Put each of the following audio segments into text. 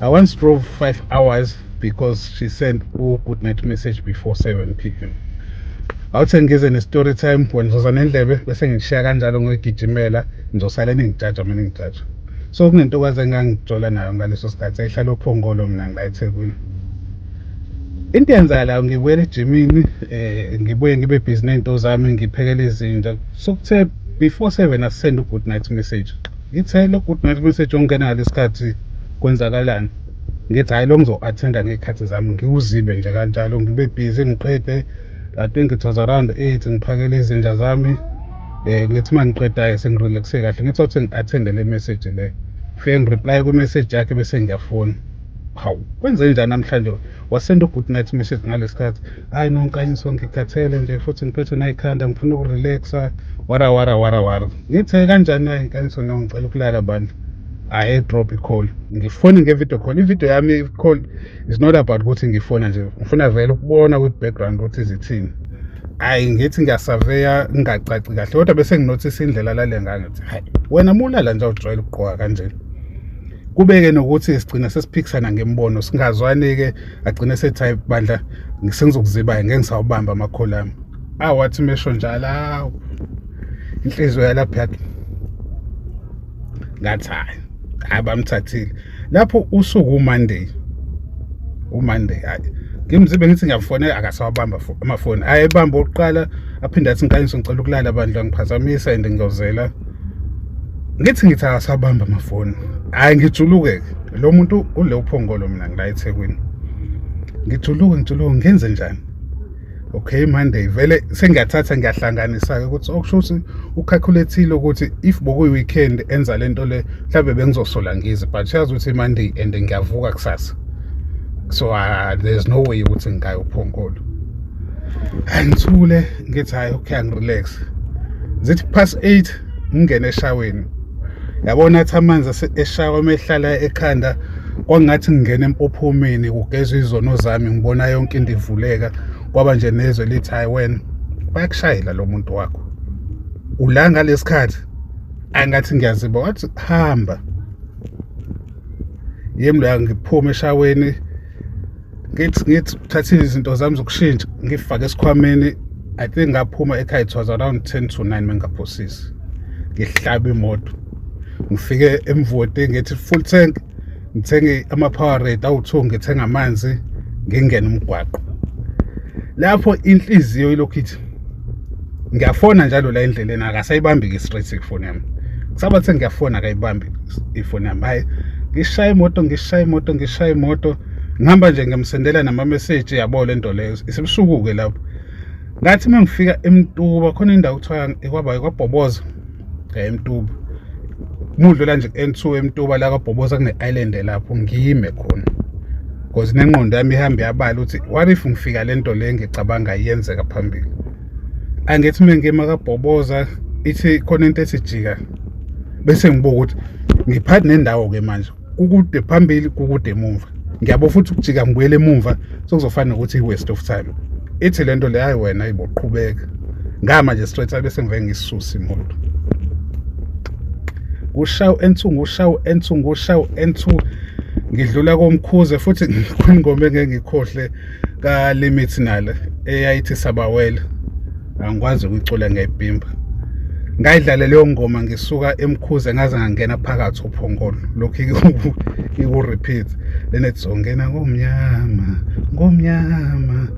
I once drove five hours because she sent u good night message before 7 pm awuthe ngize ne-story time wena uzoza nendlebe bese ngishiya kanjalo ngigijimela ngizosale ningijaja mina ngijaja so kunentokazi engangijola nayo ngaleso sikhathi ayihlala ophongolo mina ngila ethekwini into eyenzakalayo ngibuyela ejimini um ngibuye ngibe bhizi ney'nto zami ngiphekela izinja sokuthe before seven asisende u-good night message Ngithe lo good night message ongena ngalesi khathi kwenzakalani ngithi hhayi lo ngizo-attenda ngey'khathi zami ngiwuzibe nje kanjalo ngibe busy ngiqede I think it was around eight ngiphakele izinja zami um ngithi uma ngiqedayo sengirelaxe kahle ngithi othi ngi-attende le message le fike ngireply kwi-message yakhe bese ngiyafona hawu kwenze njani namhlanje wasenda u-good night message ngalesi khathi hayi no ngiqanyiso ngikhathele nje futhi ngiphethwe nayikhanda ngifuna ukurelaxa wara wara wara wara ngithe kanjani hayi ngiqanyiso no ngicela ukulala bandla I drop a call ngifone nge-video call i-video yami call is not about ukuthi ngifona nje ngifuna vele ukubona with background ukuthi zithini hayi ngithi ngiyasaveya ngingacaci kahle kodwa bese nginothisa indlela lale ngangithi hayi wena mulala nje awujwayele ukugqoka kanjena kubeke nokuthi sigcina sesiphikisana ngemibono singazwani-ke agcine sethi hayi bandla sengizokuzibayo ngeke ngisawubamba amakhola ami ah wathi mesho njalo awu inhliziyo yalapha yathi ngathi hayi hayi bamthathile lapho usuku umonday umonday hayi ngimzibe ngithi ngiyafonela akasawabamba amafoni ayebamba oqala aphinde athi nkanyiso ngicela ukulala bandla ngiphazamisa and ngiyozela ngithi ngithi akasabamba amafoni hhayi ngijuluke-ke lo muntu ule uphongolo mina ngila ethekwini ngijuluke ngijuluke ngenze njani okay monday vele sengiyathatha ngiyahlanganisa-ke ukuthi okusho ukuthi ukhakhulethi ukuthi if bokuyi-weekend enza le nto le mhlawumbe bengizosola ngize but uyazi ukuthi monday and ngiyavuka kusasa so uh, there's no way ukuthi ngingayophongolo angithule ngithi hayi okay angirelax zithi past 8 ngingene eshaweni yabona athi amanzi eshawa mehlala ekhanda kwangathi ngingena empophomeni kugezwa izono zami ngibona yonke into ivuleka kwaba nje nezwe lithi hayi wena bayakushayela lo muntu wakho ula ngalesikhathi angathi ngiyaziba wathi hamba yemlo yangiphume eshaweni ngithi ngithi thatha izinto zami zokushintsha ngifake esikhwameni i think ngaphuma ekhaya it was around 10 to 9 mengaphosisi ngihlaba imoto ngifike emvoti ngithi full tank ngithenge ama-power rate awu-two ngithenge amanzi ngingene umgwaqo lapho inhliziyo ilokhu ithi ngiyafona njalo la endleleni akasayibambi-ke i-straight ifoni yami kusaba kuthi ngiyafona akayibambi ifoni yami hhayi ngishaya imoto ngishaya imoto ngishaya imoto ngihamba nje ngiyamsendela namameseji yabo le nto leyo isibusuku-ke lapho ngathi uma ngifika emtuba khona indawo kuthiwa kwabhayi kwabhoboza emtuba mudlula nje ku-n2 emtuba la kwabhoboza kune-island lapho ngime khona because nengqondo yami ihambe yabala ukuthi what if ngifika le nto le ngicabanga iyenzeka phambili angithi mina ngima kabhoboza ithi khona into esijika bese ngibuka ukuthi ngiphathi nendawo-ke manje kukude phambili kukude emuva ngiyabo futhi ukujika ngibuyele emuva sokuzofana nokuthi i-waste of time ithi le nto le hayi wena iboqhubeka ngama nje straight abe sengive ngisisusa imoto ushawu ensu ngushawu ensu ngushawu ensu ngidlula komkhuze futhi ngikhona ingoma engeke ngikhohle kaLimit nale eyayithi sabawela angikwazi ukuyicula ngeyipimba ngayidlale leyo ngoma ngisuka emkhuze ngaze ngangena phakathi uphongolo lokhu iku-repeat then ethi zongena ngomnyama ngomnyama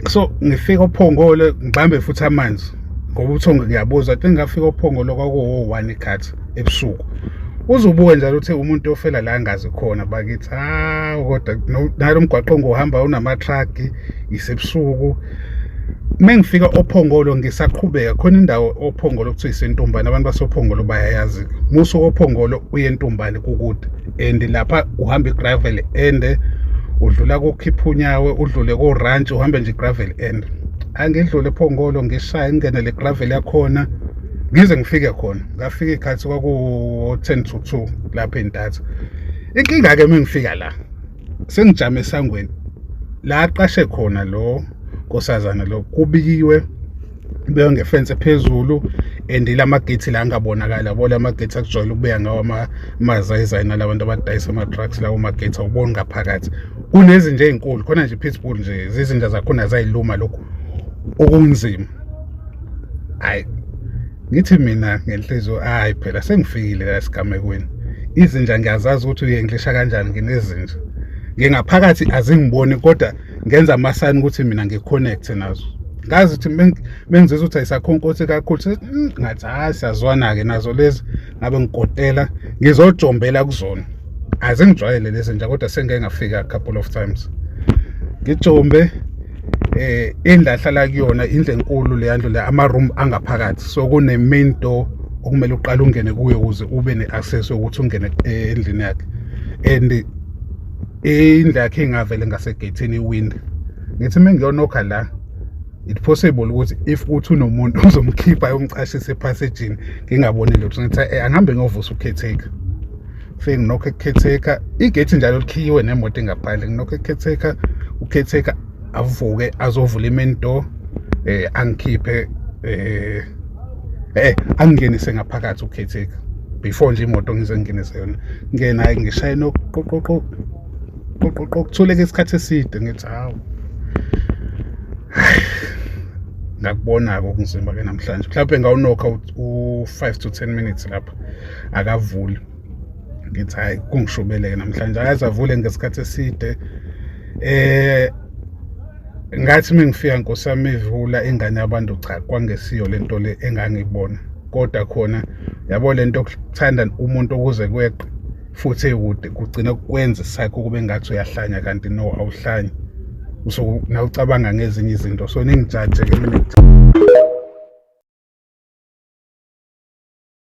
so ngifika ophongolo ngibambe futhi amanzi ngoba uthongo ngiyabuzwa te ngingafika ophongolo kwakuwo-one ikhathi ebusuku uzubuke njalo uthe umuntu ofela la ngazi khona bakithi hawu kodwa nalo mgwaqo ngohamba unamathragi isebusuku mengifika ophongolo ngisaqhubeka khona indawo ophongolo kuthiwa isentumbane abantu basophongolo bayayazi muso ophongolo uye entumbane kukude and lapha uhamba igravel and udlula kokhiphunyaawe udlule koranch uhambe nje igravel and angidlule ephongolo ngishaya ingene le gravel yakhona ngize ngifike khona ngafika ikhathi kwaku-ten to two lapho entatha inkinga-ke uma ngifika la sengijame esangweni la aqashe khona lo nkosazana lo kubikiwe beyo ngefense phezulu and lamagate la angabonakala bo lamagate akujwayele ukubuya ngawo amazayizayi nalabantu abadayisa ama-trucks lawo magate awuboni ngaphakathi kunezinja ey'nkulu khona nje i-pitbull nje zizinja zakhona zayiluma lokhu okunzima hayi ngithi mina ngenhliziyo hayi phela sengifikile la esigamekweni izinja ngiyazazi ukuthi uyenglisha kanjani nginezinja ngingaphakathi azingiboni kodwa ngenza amasayini ukuthi mina ngi-connect nazo ngazi ukuthi mengizizwa ukuthi ayisakhonkothe kakhulu ngathi hayi siyazwana-ke nazo lezi ngabe ngikotela ngizojombela kuzona azingijwayele lezi nja kodwa sengike ngafika a couple of times ngijombe eh endahlala kuyona indle enkulu leyandlu le ama room angaphakathi so kune main door okumele uqale ungene kuyo ukuze ube ne access ukuthi ungene eh, endlini yakhe and indlu yakhe ingavele ngasegethini iwindi ngithi mengiyonokha la it possible ukuthi if uthi unomuntu uzomkhipha yomcashisa ephasejini ngingaboni lutho ngithi eh, angihambe ngiyovusa ukhetheka fike nginokho ekukhetheka igethi njalo likhiyiwe nemoto engaphandle nginokho ekukhetheka ukhetheka avuke azovula i-main door eh angikhiphe eh eh angingenise ngaphakathi ukhetheka before nje imoto ngize ngingenise yona ngena ngishaye noqoqoqo qoqoqokuthuleka isikhathi eside ngithi hawu ngakubona-ke okunzima ke namhlanje mhlawumbe ngawunokha u-five to ten minutes lapha akavuli ngithi hhayi kungishubeleke namhlanje akaze avule ngesikhathi eside eh ngathi mengifika nkosi yami ivula ingane yabantu cha kwangesiyo lento le engangibona kodwa khona yabo lento okuthanda umuntu ukuze kweqe futhi ekude kugcina kukwenza isakho kube ngathi uyahlanya kanti no awuhlanyi so nawucabanga ngezinye izinto so ningijaje ke mina